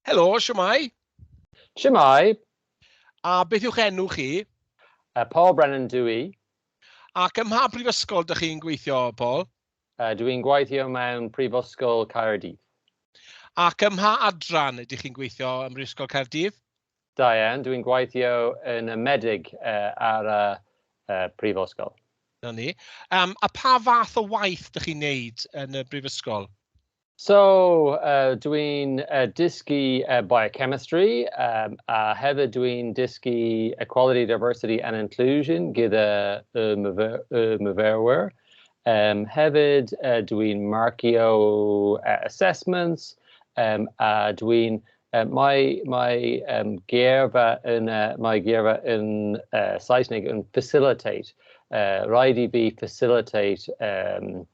Helo, siwmai. Siwmai. A beth yw'ch enw chi? Uh, Paul Brennan dw i. Ac ym mha brifysgol dych chi'n gweithio, Paul? Uh, dw i'n gweithio mewn Prifysgol Caerdydd. Ac ym mha adran ydych chi'n gweithio ym Mhrifysgol Caerdydd? Da iawn, dwi'n gweithio yn y Meddyg ar y Brifysgol. Na ni. Um, a pa fath o waith dych chi'n neud yn y brifysgol? So, uh, dwi'n uh, dysgu uh, biochemistry um, a hefyd dwi'n dysgu equality, diversity and inclusion gyda y, myfer, y myfyrwyr. Um, hefyd uh, dwi'n marcio uh, assessments um, a dwi'n Um, mae mae um, geirfa yn uh, mae geirfa yn uh, Saesneg yn facilitate. Uh, rhaid i fi facilitate um,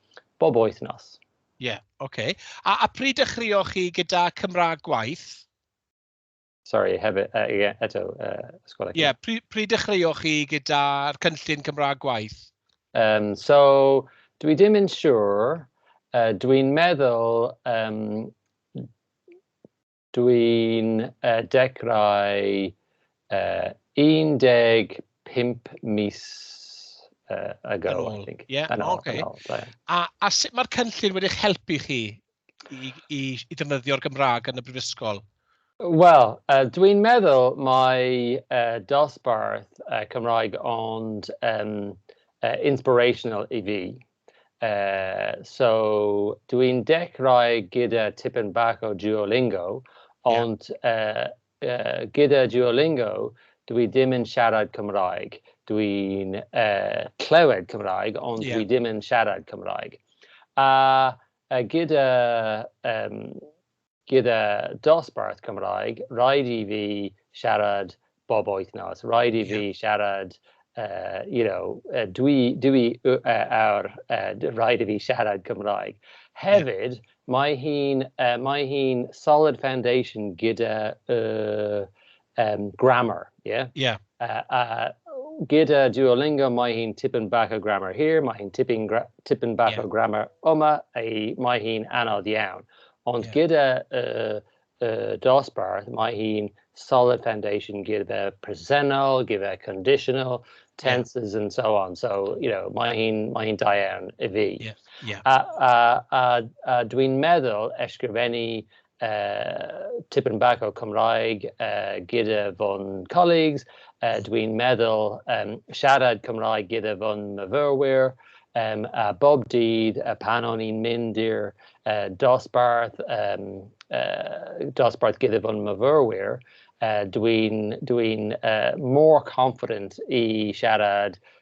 bob wythnos. Ie, yeah, oce. Okay. A, a pryd dechreuoch chi gyda Cymraeg gwaith? Sorry, hefyd, uh, yeah, eto, uh, sgwrdd. Ie, yeah, pryd, pryd dechreuoch chi gyda'r cynllun Cymraeg gwaith? Um, so, dwi ddim yn siŵr. Uh, dwi'n meddwl um, Dwi'n dechrau 15 mis ago, I think. Ie, oce. A sut mae'r cynllun wedi eich helpu chi i ddefnyddio'r Gymraeg yn y Brifysgol? Wel, dwi'n meddwl mai dosbarth Cymraeg ond inspirational i fi. Uh, so, dwi'n dechrau gyda tipyn bach o Duolingo, ond yeah. uh, uh, gyda Duolingo, dwi ddim yn siarad Cymraeg. Dwi'n uh, clywed Cymraeg, ond yeah. dwi ddim yn siarad Cymraeg. A uh, gyda um, Gyda dosbarth Cymraeg, rhaid i fi siarad bob wythnos, rhaid i fi siarad, uh, you know, uh, dwi, dwi uh, awr, uh, rhaid i fi siarad Cymraeg. Hefyd, mae hi'n uh, mae hi solid foundation gyda uh, um, grammar, yeah? Yeah. Uh, uh, gyda Duolingo, mae hi'n tipyn bach o grammar hir, mae hi'n tipyn, tipyn bach yeah. o grammar yma, ei, mae hi'n anodd iawn. Ond yeah. gyda uh, uh, dosbarth, mae hi'n solid foundation gyda presennol, gyda conditional, tenses yeah. and so on. So, you know, mae hi'n mae hi da iawn i fi. Yeah. Yeah. A, a, a, a dwi'n meddwl ysgrifennu uh, tipyn bach o Cymraeg uh, gyda fo'n colleagues. Uh, Dwi'n meddwl um, siarad Cymraeg gyda fo'n myfyrwyr. Um, a bob dydd, uh, pan o'n i'n mynd i'r uh, dosbarth, um, uh, dosbarth gyda fo'n myfyrwyr, uh, dwi'n dwi uh, more confident i siarad